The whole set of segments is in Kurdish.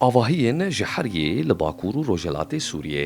Avahiyên ji Heryê li Bakur û Rojhilatê Sûriyê.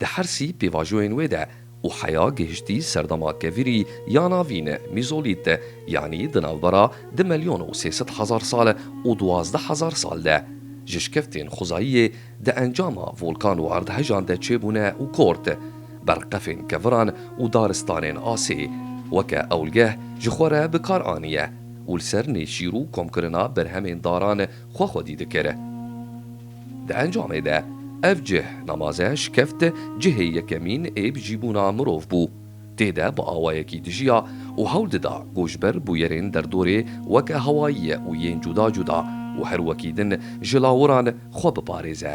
Di hersî pêvajoyên wê de û heya gihiştî serdema kevirî ya navîn, mîzolît, yanî di navbera di melyon û sê sed hezar sal û duwazdeh hezar sal de, ji şikevtên xwezayiyê di encama volkan û erdhejan de çêbûne û kort, berqefên keviran û daristanên asê weke ewlgeh ji xwe re bi kar aniye û li ser nêşîr û komkirina berhemên daran, xwe xwedî dikir. Di encamê de ev cih, namaze, şikeft cihê yekemîn ê bijîbûna mirov bû. Tê de bi awayekî dijiya û hewl dida ku ji ber bûyerên derdorê weke hewayî û yên cuda cuda û her wekî din ji lawiran xwe biparêze.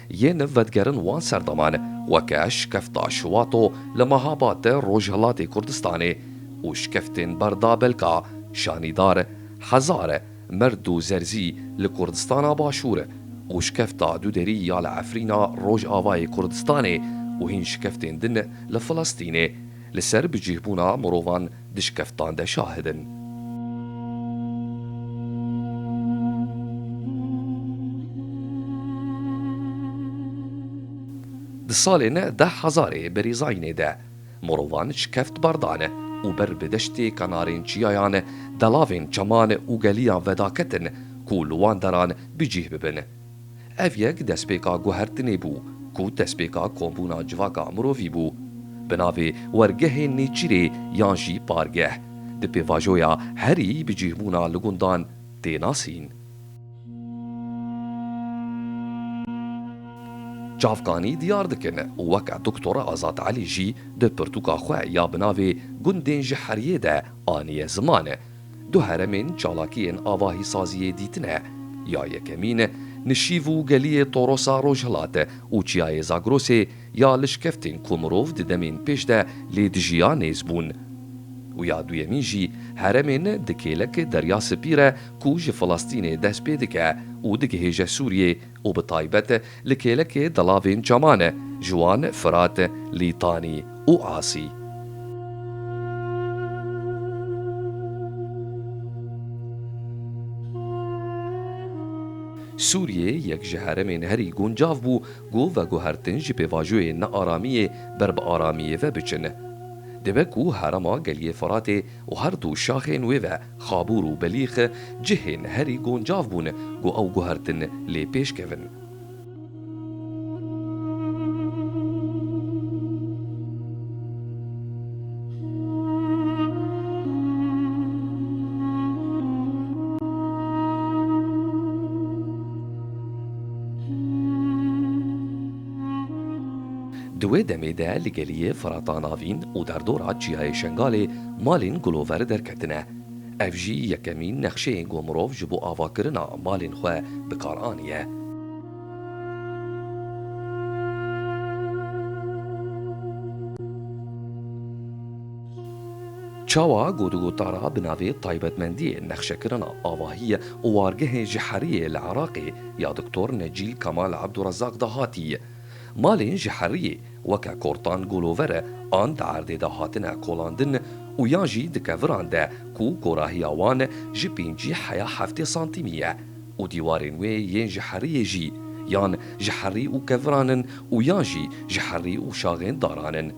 Yê niv vedigerin wan serdaman weke şikefta Şuwato li Mehabate Rojhilatê Kurdistanê û şikeftên berda belka Şanîdar, Hezar, Merd û Zerzî li Kurdistana Başûr û şikefta Duderî ya li Efrîna Rojavayê Kurdistanê û hîn şikeftên din li Filistînê li ser bicîhbûna mirovan di şikeftan de şahid in. Di salên deh hezarê berîzayînê de mirovan şikeft berdane û ber bi deştê kenarên çiyayan, delavên çeman û geliyan vedaketin ku li wan deran bi cîh bibin. Ev yek destpêka guhertinê bû ku destpêka kombûna civaka mirovî bû. Bi navê wergehê nêçîrê yan jî pargeh, di pêvajoya herî bi cîhbûna li gundan tê nasîn. Çavkanî diyar dikin û weke Doktor Azad Elî jî di pirtûka xwe ya bi navê Gundên ji Heriyê de aniye ziman, Du heremên çalakiyên avahîsaziyê dîtine, ya yekemîn nişîv û geliyê Torosa Rojhilat û çiyayê Zagrosê ya lişkeftên ku mirov di demên pêş de lê dijî ya nêz bûn û ya duyemîn jî heremên di kêlek Derya Sipî re ku ji Filastînê dest pê dike û digihêje Sûriyê û bi taybet li kêlekê delavên çaman e, ji wan Firat, Lîtanî û Asî. Sûriyê yek ji heremên herî guncav bû ku veguhertin ji pêvajoyên nearamiyê ber bi aramiyê ve biçin. Dibe ku herema Geliyê Firatê û her du şaxên wê ve, Xabûr û Belîx cihên herî guncav bûn ku ew guhertin lê pêş kevin. Di wê demê de li geliyê Firata Navîn û derdora Çiyayê Şengalê malên Gulover derkevin. tine. Ev jî yekemîn nexşeyên ku mirov ji bo avakirina malên xwe bi kar aniye. Çawa gotigotara bi navê Taybetmendiyên nexşekirina avahî û wargehên ji heriyê li Iraqê ya Doktor Necîl Kemal Ebdurezaq de hatî. Malên ji heriyê weke kortan golover an di erdê de hatine kolandin û yan jî di keviran de ku korahiya wan ji pêncî heya heftê santîmî ye û dîwarên wê yên ji heriyê jî yan ji herî û keviran in û yan jî ji herî û şaxên daran in.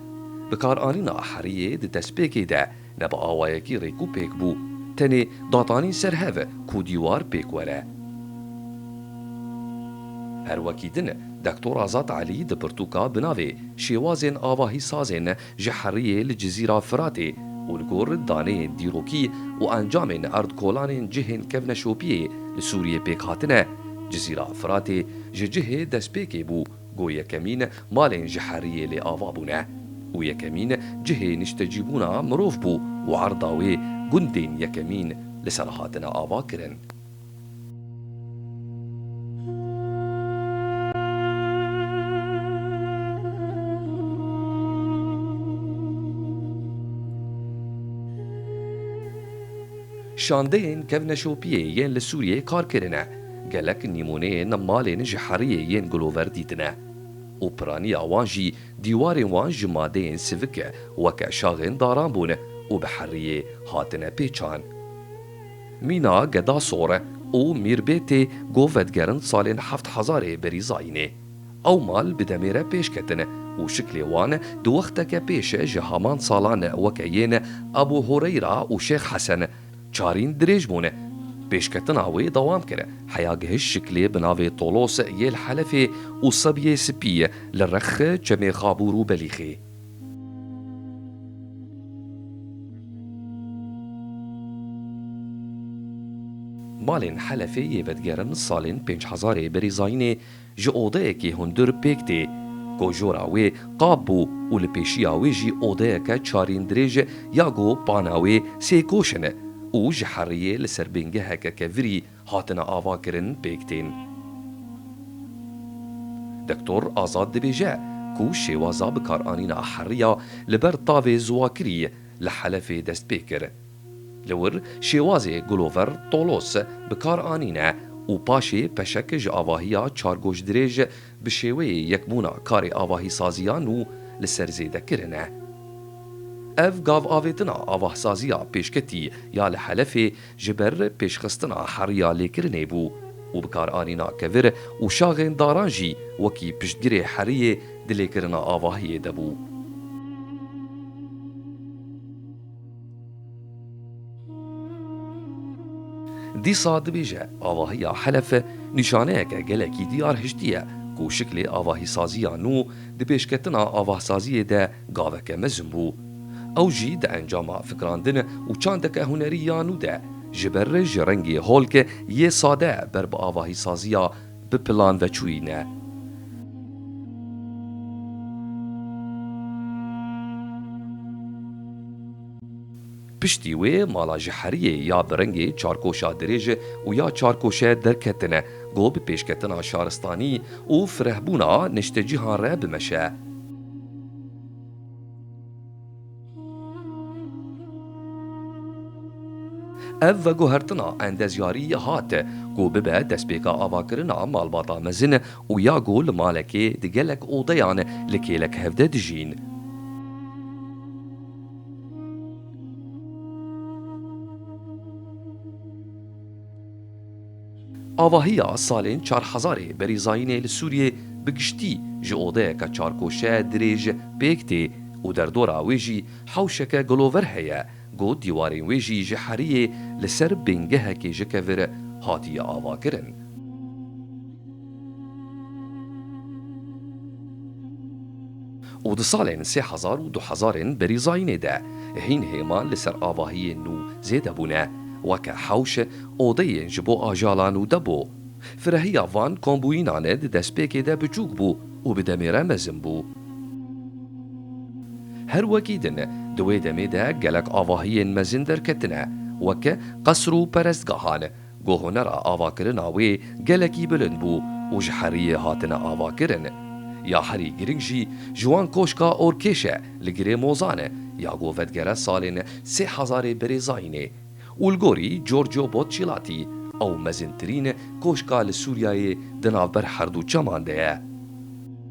Bikaranîna heriyê di destpêkê de Ne bi awayekî rêk û pêk bû. Tenê datanîn ser hev e ku dîwar pêk were. Her wekî din e, Dektor Azad Elî di pirtûka bi navê Şêwazên avahî sazên ji heriyê li Cizîra Firatê û li gor daneyên dîrokî û encamên erdkolanên cihên kevneşopiyê li Sûriyê pêk hatine, Cizîra Firatê ji cihê destpêkê bû. Ku yekemîn malên ji heriyê lê ava bûne û yekemîn cihê niştecîbûna mirov bû û erda wê gundên yekemîn li ser hatine avakirin. Şandeyên kevneşopiyê yên li Sûriyeyê kar kirine. Gelek nîmûneyên malên ji heriyê yên Glover dîtine û piraniya wan jî dîwarên wan ji madeyên sivik weke şaxên daran bûn û bi heriyê hatine pêçan. Mîna Geda Sor û Mîrbê tê ku vedigerin salên heft hezarê berî zayînê. Ew mal bi demê re pêş ketin û şiklê wan di wexteke pêş ji haman salan weke yên Ebû Hureyra û Şêx Hesen Çarîn dirêj bûne. Pêşketina wê dewam kere. Heya gihişt şiklê bi navê Tolos yê li Helefê û sebiyê spî ye li Rexxê, Çemê Xabûr û Belîxê. Malên Helefê yê vedigerin salên pênc hezarê berî zayînê Ji odeyekê hundir pêk tê. Kojora wê qab bû û li pêşiya wê jî odeyeke çarîn dirêj e ya ku pana wê sê koşin e û ji heriyê li ser bingeheke kevirî hatine avakirin pêk tên. Doktor Azad dibêje ku şêwaza bikaranîna heriya li ber tavê ziwakirî li Helefê dest pê kir. Li wir şêwazê Gulover Tolos bi kar anîne û paşê peşek ji avahiya çargoşdirêj bi şêweyê yekbûna karê avahîsaziya nû li ser zêde kirine. Ev gavavêtina avahsaziya pêşketî ya li Helefê ji ber pêşxistina heriya lêkirinê bû û bi kar anîna kevir û şaxên daran jî wekî piştgirê heriyê di lêkirina avahiyê de bû. Dîsa dibêje avahiya Helef nîşaneyeke gelekî diyar hiştiye ku şiklê avahîsaziya nû di pêşketina avahsaziyê de gaveke mezin bû. Ew jî di encama fikrandin û çandeke hunerî ya nû de ji ber ji rengê holk yê sade ber bi avahîsaziya bi plan ve çûyîne. Piştî wê mala ji heriyê ya bi rengê çarkoşa dirêj û ya çarkoşe derketine ku bi pêşketina şaristanî û firehbûna niştecîhan re bimeşe. Ev veguhertina endezyarî hat ku bibe destpêka avakirina malbata mezin û ya ku li malekê di gelek odeyan li kêlek hevdeh dijîn. Avahiya salên çar hezarê berîzayînê li Sûriyê bi giştî ji odeyeke çarkoşe dirêj pêk tê û derdora wê jî hewşeke gulover heye ku dîwarên wê jî ji heriyê li ser bingehekê ji kevir hatiye avakirin. û di salên sê hezar û du hezarên berî zayînê de hîn hêma li ser avahiyên nû zêde bûne weke hewş odeyên ji bo ajalan û debo. Firehiya van kombûyînan e di destpêkê de biçûk bû û bi demê re mezin bû. Her wekî din di wê demê de gelek avahiyên mezin derketine weke qesr û perestgahan, ku hunera avakirina wê gelekî bilind bû û ji heriyê hatine avakirin. Ya herî girîng jî ji wan Koşka Orkêş e li girê Mozan e ya ku vedigere salên sê hezarê birêzayînê û li gorî Giorgio Botçîlatî ew mezintirîn koşka li Sûriyeyê di navber herdu çeman de ye.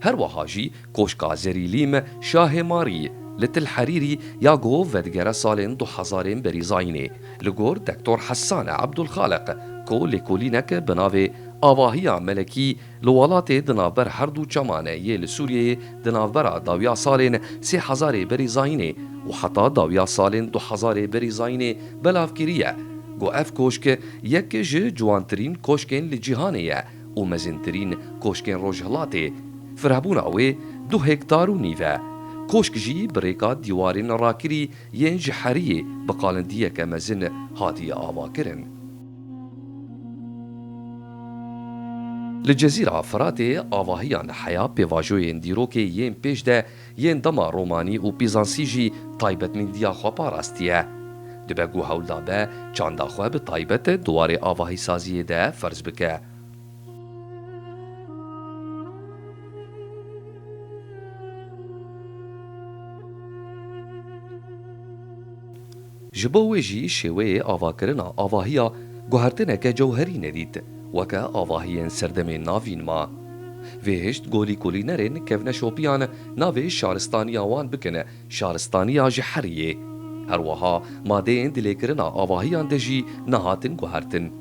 Her wiha jî Koşka Zerîlîm Şahê Marî li Til Herîrî ya ku vedigere salên du hezar ên berîzayînê li gor Dektor Hessan Ebdulxaliq ku lêkolînek bi navê Avahiya Melekî li welatê di navber her du çeman yê li Sûriyeyê Di navbera dawiya salên sê hezarê berî zayînê û heta dawiya salên du hezarê berî zayînê belav kiriye ku ev koşk yek ji ciwantirîn koşkên li cîhanê ye û mezintirîn koşkên Rojhilatê firehbûna wê du hektar û nîv e. Koşk jî bi rêka dîwarên rakirî yên ji heriyê bi qalindiyeke mezin hatiye avakirin. Li Cezîra Firatê avahiyan heya pêvajoyên dîrokê yên pêş de yên dema romanî û pîzansî jî taybetmîndiya xwe parastiye. Dibe ku hewldabe çanda xwe bi taybet di warê avahîsaziyê de ferz bike. Ji bo wê jî şêweyê avakirina avahiya guhertineke cewherî nedît, weke avahiyên serdemên navîn ma. Vê hişt golîkolînerên kevneşopiyan navê şaristaniya wan bikin şaristaniya ji herî yê. Herwiha madeyên dilêkirina avahiyan de jî nehatin guhertin.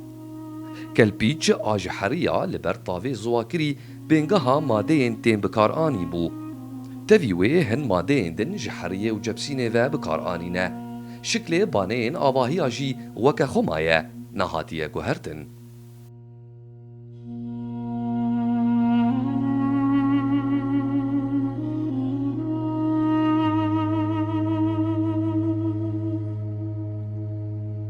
Kelpîç a ji herî ya li ber tavê ziwakirî, pêngeha madeyên tên bikar anî bû. Tevî wê hin madeyên din ji heriyê û cebsînê ve bikar anîne. Şiklê baneyên avahiya jî weke xwe maye, nehatiye guhertin.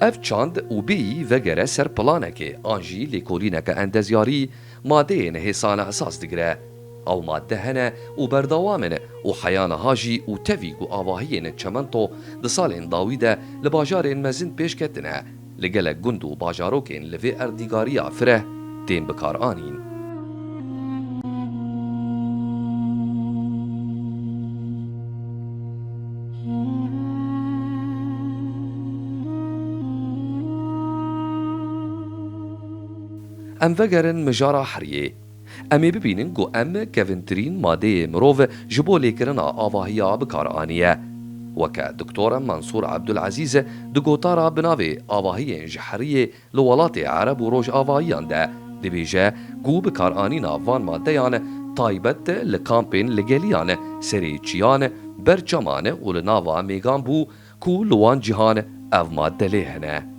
Ev çand û bî vegere ser planekê an jî lêkolîneke endezyarî madeyên hê sane esas digire. Ew made hene û berdewam in û heya niha jî û tevî ku avahiyên çimento di salên dawî de li bajarên mezin pêş ketine, li gelek gund û bajarokên li vê erdnîgariya fireh, tên bikaranîn. Em vegerin mijara heriyê. Em ê bibînin ku em kevintirîn madeyê mirov ji bo lêkirina avahiya bikaranîye. Weke Doktor Mansûr Ebdulezîz di gotara bi navê Avahiyên ji heriyê Li welatê Ereb û Rojavayiyan de dibêje ku bikaranîna van madeyan taybet li kampên li geliyan, serê çiyan, ber çeman û li nava mêgan bû ku li wan cihan ev made lê hene.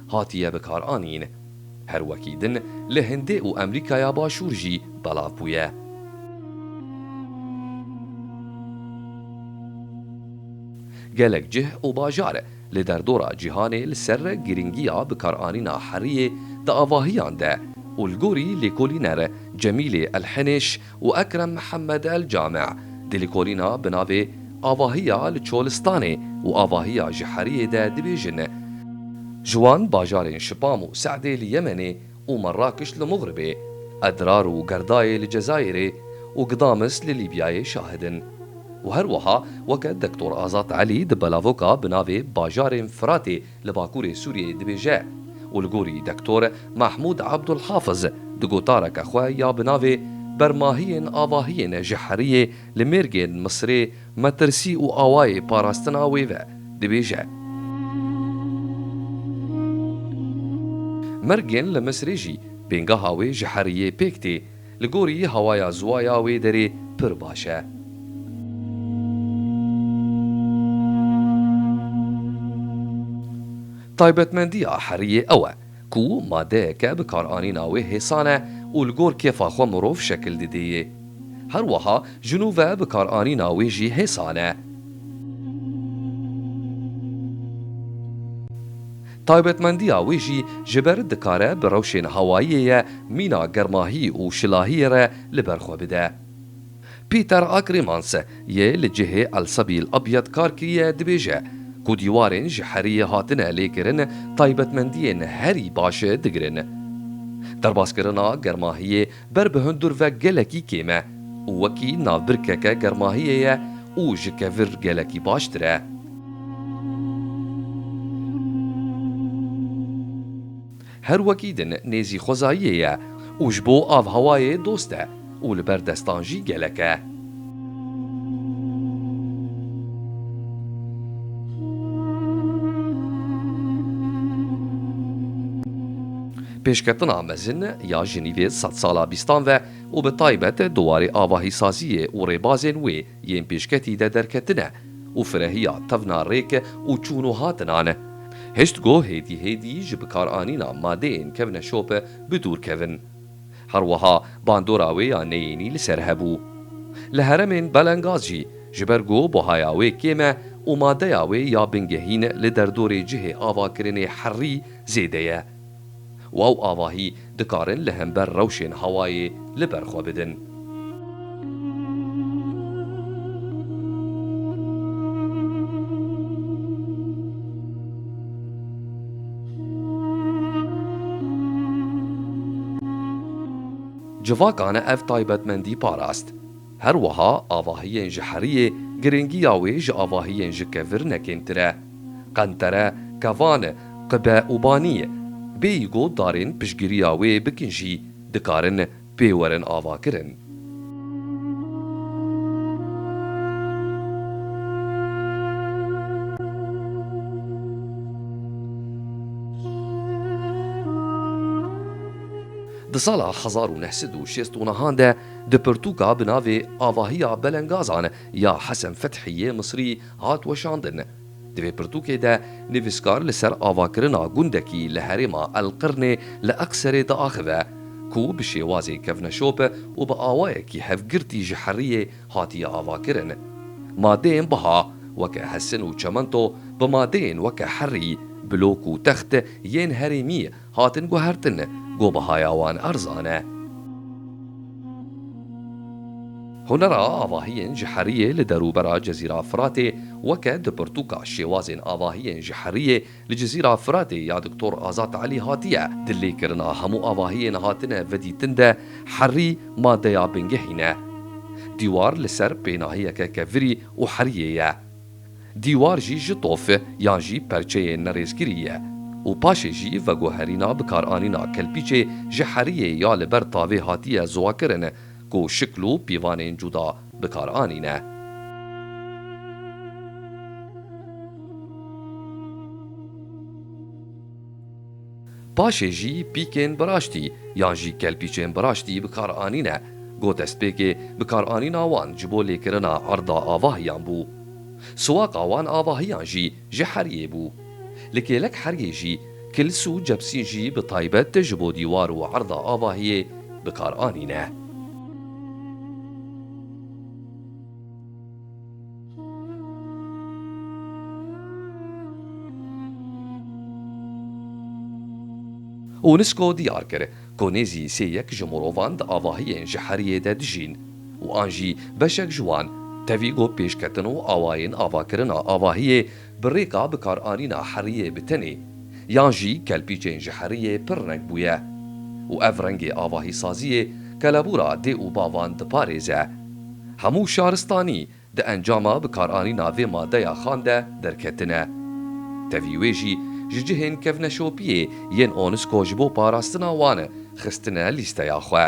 hatiye bikaranîn. Her wekî din li Hindê û Emrîkaya Başûr jî belav bûye. Gelek cih û bajar li derdora cîhanê li ser girîngiya bikaranîna heriyê di avahiyan de û li gorî lêkolîner Cemîlê Elhenêş û Ekrem Mihemed El Came di lêkolîna bi navê Avahiya li Çolistanê û Avahiya ji Heriyê de dibêjin, Ji wan bajarên Şipam û Se'dê li Yemenê û Merrakiş li Mugribê, Edrar û Gerdayê li Cezayirê û Gdamis li Lîbyayê şahid in. Û her wiha weke Dektor Azad Elî di belavoka bi navê Bajarên Firatê, li Bakurê Sûriyeyê dibêje û li gorî Dektor Mahmûd Abdulhafiz di gotareke xwe ya bi navê Bermahiyên avahiyên ji heriyê li mêrgên Misirê metirsî û awayê parastina wê ve dibêje, Mêrgên li Misirê jî bêngeha wê ji heriyê pêk tê. Li gorî hewaya ziwa ya wê derê pir baş e. Taybetmendiya heriyê ew e ku madeyeke bikaranîna wê hêsan e û li gor kêfa xwe mirov şekil didê yê. Her wiha ji nû ve bikaranîna wê jî hêsan e. Taybetmendiya wê jî ji ber dikare bi rewşên hawayiyê ye mîna germahî û şilahiyê re li ber xwe bide. Peter Akremans yê li cihê Elsebîl Ebyed kar kiriye dibêje ku dîwarên ji heriyê hatine lêkirin taybetmendiyên herî baş digirin. Derbaskirina germahiyê Ber bi hundir ve gelekî kêm e û wekî navbirkeke germahiyê ye û ji kevir gelekî baştir e. Her wekî din nêzî xwezayiyê ye û ji bo avhewayê dost e û li ber destan jî gelek e. Pêşketina mezin ya Jinîvê di sedsala bîstan ve û bi taybet di warê avahîsaziyê û rêbazên wê yên pêşketî de derketine û firehiya tevna rêk û çûn û hatinan e. Hiştgo hêdî hêdî ji bikaranîna madeyên kevneşop bi dûr kevin. Her wiha bandora wê ya neyênî li ser hebû. Li heremên Belengaz jî ji ber ku buhaya wê kêm e û madeya wê ya bingehîn li derdorê cihê avakirinê herî zêde ye, Waw avahî dikarin li hember rewşên hewayê li ber xwe bidin. Civakane ev taybetmendî parast. Her wiha avahiyên ji heriyê girêngiya wê ji avahiyên ji kevir ne kêmtir e. Qentere, kevan, qibe û banî bêyî got darên piştgiriya wê bikin jî dikarin pê werin avakirin. Di sala hezar û neh sed û şêst û nihan de Di pirtûka bi navê Avahiya Belengazan ya Hesen Fethî yê Misrî hat weşandin. Di vê pirtûkê de nivîskar li ser avakirina gundekî li herêma El Qirnê li Eqserê diaxive ku bi şêwazê kevneşop û bi awayekî hevgirtî ji heriyê hatiye avakirin. Madeyên biha weke hesin û çemento bi madeyên weke herî, blok û text yên herêmî Hatin guhertin ku bihaya wan erzan e. Hunera avahiyên ji heriyê li derûbera Cezîra Firatê weke di pirtûka Şêwazên avahiyên ji heriyê li Cezîra Firatê ya Doktor Azad Elî hatiye di lêkirina hemû avahiyên hatine vedîtin de herî madeya bingehîn e. Dîwar li ser pênahiyeke kevirî û heriyê ye. Dîwar jî ji tof yan jî perçeyê nirêzkirî ye û paşê jî veguherîna bikaranîna kelpîçê ji heriyê ya li ber tavê hatiye ziwakirin ku şikl û pîvanên cuda bikar anîne. Paşê jî pîkên biraştî yan jî kelpîçên biraştî bi kar anîne ku destpêkê bikaranîna wan ji bo lêkirina erda avahiyan bû. Siwaqa wan avahiyan jî ji heryê bû. Li kêlek heryê jî kils û cebsîn jî bi taybet ji bo dîwar û erda avahiyê bi kar anîne. UNESCO diyar kir ku nêzî sê yek ji mirovan di avahiyên ji heriyê de dijîn û an jî beşek ji wan tevî ku pêşketin û awayên avakirina avahiyê bi rêka bikaranîna heriyê bi tenê yan jî kelpîçên ji heriyê pir reng bûye û ev rengê avahîsaziyê kelebûra dê û bavan diparêze. Hemû şaristanî di encama bikaranîna vê madeya xan de derketine. Tevî wê jî ji cihên kevneşopiyê yên ONUSCO ji bo parastina wan xistine lîsteya xwe.